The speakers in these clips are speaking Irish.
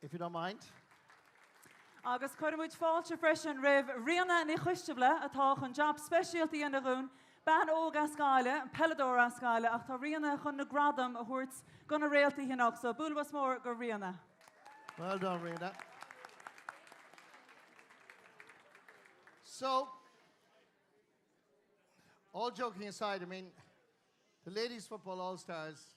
If you don't mind. Agus cuireann muid fáilte freisin roimh Ríona Ní Choistealbha, atá chun jab speisialta a dhéanamh dhúinn, bean óg as Gaillimh, an peileadóir as Gaillimh, ach tá Ríona chun na gradaim a thabhairt go na réaltaí anocht, so bualadh bos mór go Ríona. Well done Ríona. So, all joking aside, I mean, the Ladies Football All Stars,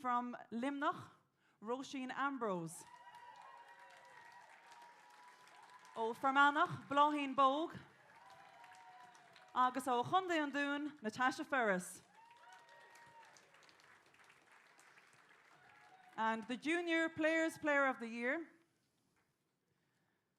From Luimneach, Róisín Ambrose. Ó Fear Manach, Bláithín Bogue. Agus ó Chontae an Dúin, Natasha Ferris. And the Junior Players Player of the Year.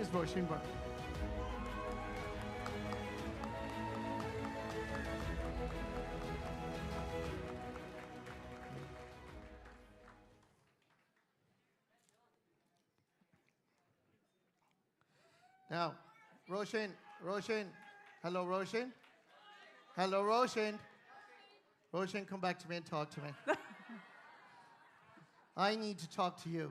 Is bheo sin bhur. Now, Róisín, Róisín, hello Róisín, hello Róisín, Róisín come back to me and talk to me. I need to talk to you.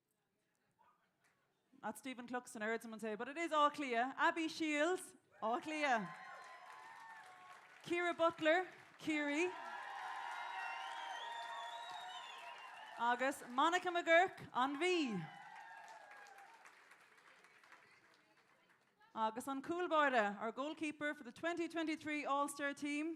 That's Stephen Cluxton, I heard someone say, but it is Áth Cliath. Abby Shiels, Áth Cliath. Ciara Butler, Ciarraí. Agus Monica McGuirk, an Mhí. Agus an cúl báire, our goalkeeper for the 2023 All-Star team,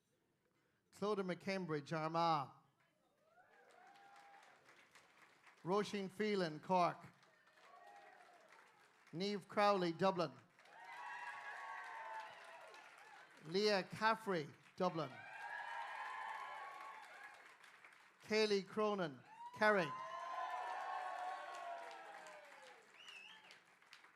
Clodagh McCambridge, Armagh. Róisín Phelan, Cork. Niamh Crowley, Dublin. Leah Caffrey, Dublin. Kayleigh Cronin, Kerry.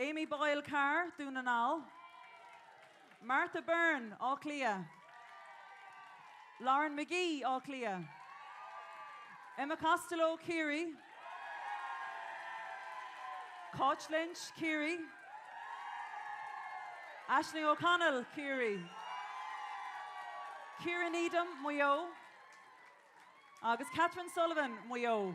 Amy Boyle Carr, Dún na nGall. Martha Byrne, Áth Cliath. Lauren Magee, Áth Cliath. Emma Costello, Ciarraí. Cáit Lynch, Ciarraí. Aisling O'Connell, Ciarraí. Ciara Needham, Maigh Eo. Agus Kathryn Sullivan, Maigh Eo.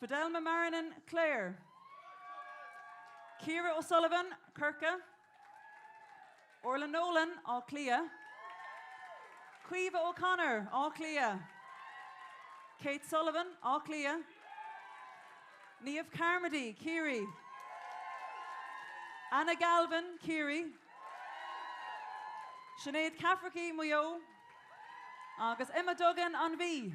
Fidelma Marrinan, Clare. Ciara O'Sullivan, Corcaigh. Orlagh Nolan, Áth Cliath. Caoimhe O'Connor, Áth Cliath. Kate Sullivan, Áth Cliath. Niamh Carmody, Ciarraí. Anna Galvin, Ciarraí. Sinéad Cafferky, Maigh Eo. Agus Emma Duggan, An Mhí.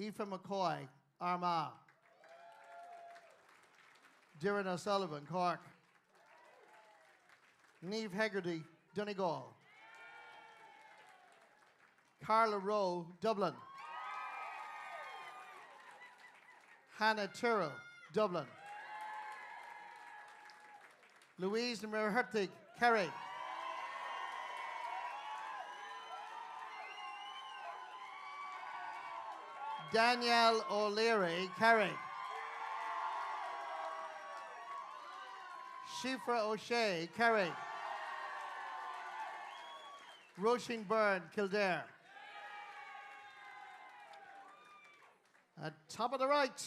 Aoife McCoy, Armagh. Doireann O'Sullivan, Cork. Niamh Hegarty, Donegal. Carla Rowe, Dublin. Hannah Tyrrell, Dublin. Louise Ní Mhuircheartaigh, Kerry. Daniel O'Leary, Kerry. Síofra O'Shea, Kerry. Róisín Byrne, Kildare. At top of the right.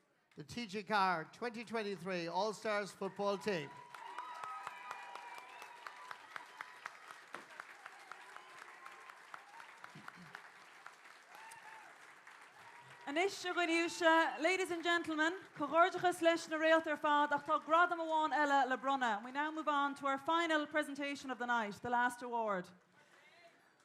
The TG4 2023 All Stars Football Team. Anois, a dhaoine uaisle, ladies and gentlemen, comhghairdeachas leis na réalta ar fad ach tá gradam amháin eile le bronnadh. We now move on to our final presentation of the night, the last award.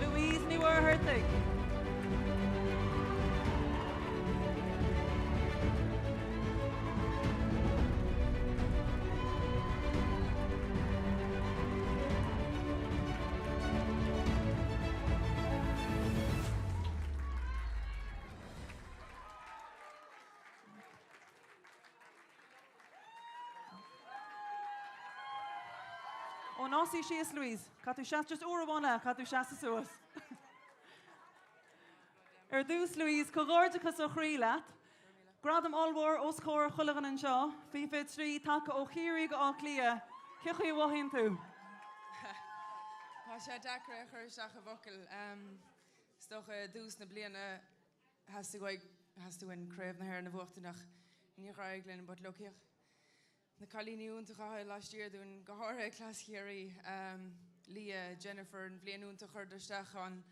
Louise Ní Mhuircheartaigh. Ó, ná suí síos, Louise. Caithfidh tú seasamh just uair amháin eile, caithfidh tú seasamh suas. Ar dtús, Louise, comhghairdeachas ó chroí leat. Gradam ollmhór os comhair chuile dhuine anseo, faoi thrí, tagtha ó Chiarraí go Áth Cliath. Cé chaoi a mhothaíonn tú? Tá sé deacair a chur isteach i bhfocail. Is dócha dtús na bliana theastaigh uainn Craobh na hÉireann a bhuachtaint ach níor éirigh linn but look féach na cailíní iontacha atá laistiar dúinn, go háirithe cleas Chiarraí, Niamh, Jennifer, an bhliain iontach a chuireadar isteach, but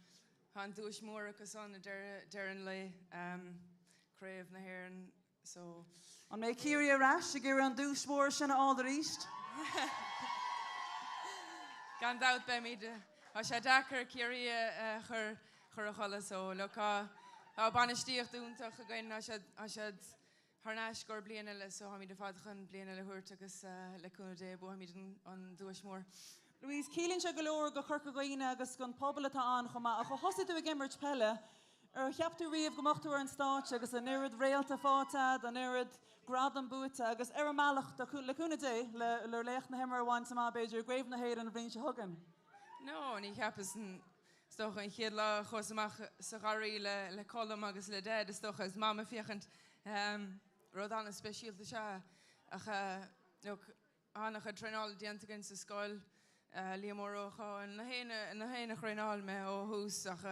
tá an duais mór acu san ag deireadh an lae, Craobh na hÉireann. So, an mbeidh Ciarraí ar ais ag iarraidh an duais mhór sin a fháil arís? Gan dabht beimid. Tá sé deacair Ciarraí a chur a chodladh. So, look, tá bainistíocht iontach againn, tá siad, tá siad tharnais go bliain eile, so táimid ar fad chun bliain eile a thabhairt agus le cúnamh Dé buafaimid an duais mhór. Louise, ciallaíonn sé go leor go Corca Dhuibhne agus don phobal atá ann chomh maith. Ó thosaigh tú ag imirt peile, Ar cheap tú riamh go mbeadh tú ar an stáitse agus an oiread réalta faighte agat, an oiread gradam buaite agus ar an mbealach, le cúnamh Dé, le laoch na himeartha a bhaint amach, b'fhéidir, i gCraobh na hÉireann an bhliain seo chugainn? No, níor cheapas. Is dócha, an chéad lá a chuas amach sa gharraí le Colm agus le Dad, is dócha, is Mam ag féachaint, rud an-speisialta is ea é. Ach, tá an-chuid traenáil déanta againn sa scoil, Liam Ó Rócháin an chéad duine a thraenáil mé ó thús ach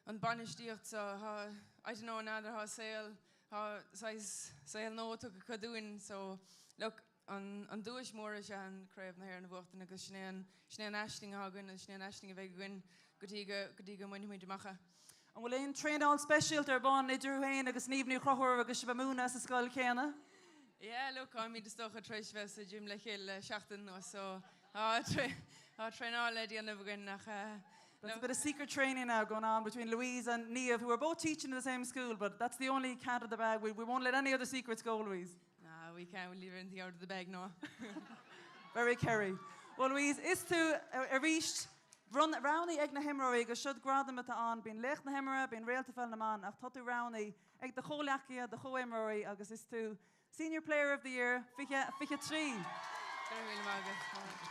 an bainistíocht so, thá, I don't know n'fheadar, thá saol, thá saghas saol nua tugtha dúinn so look an duais mór is ea an Craobh na hÉireann a bhuachtaint agus sin é an, sin é an aisling athá againn agus sin é an aisling a bheidh againn go dtí go, go dtí go mbainfimid amach é. An bhfuil aon traenáil speisialta ar bun idir thú féin agus Niamh Ní Chonchúir agus sibh ag múineadh sa scoil chéanna? Yeah, look, táimid is dócha tar éis bheith sa gym le chéile le seachtain nó so tá traenáil le déanamh againn nach There's a bit of secret training now going on between Louise and Niamh, who are both teaching in the same school, but that's the only cat out of the bag. We, we won't let any other secrets go, Louise. Ah, we can't leave anything out of the bag, no. Very Kerry. Well, Louise, is tú arís. Roghnaithe ag na himreoirí agus siúd gradam atá ann, bíonn Laoch na hImeartha, bíonn Réalta Pheil na mBan ach tá tú roghnaithe ag do chomhghleacaithe, do chomhimreoirí agus is tú Senior Player of the Year 2023. Go raibh míle maith agat.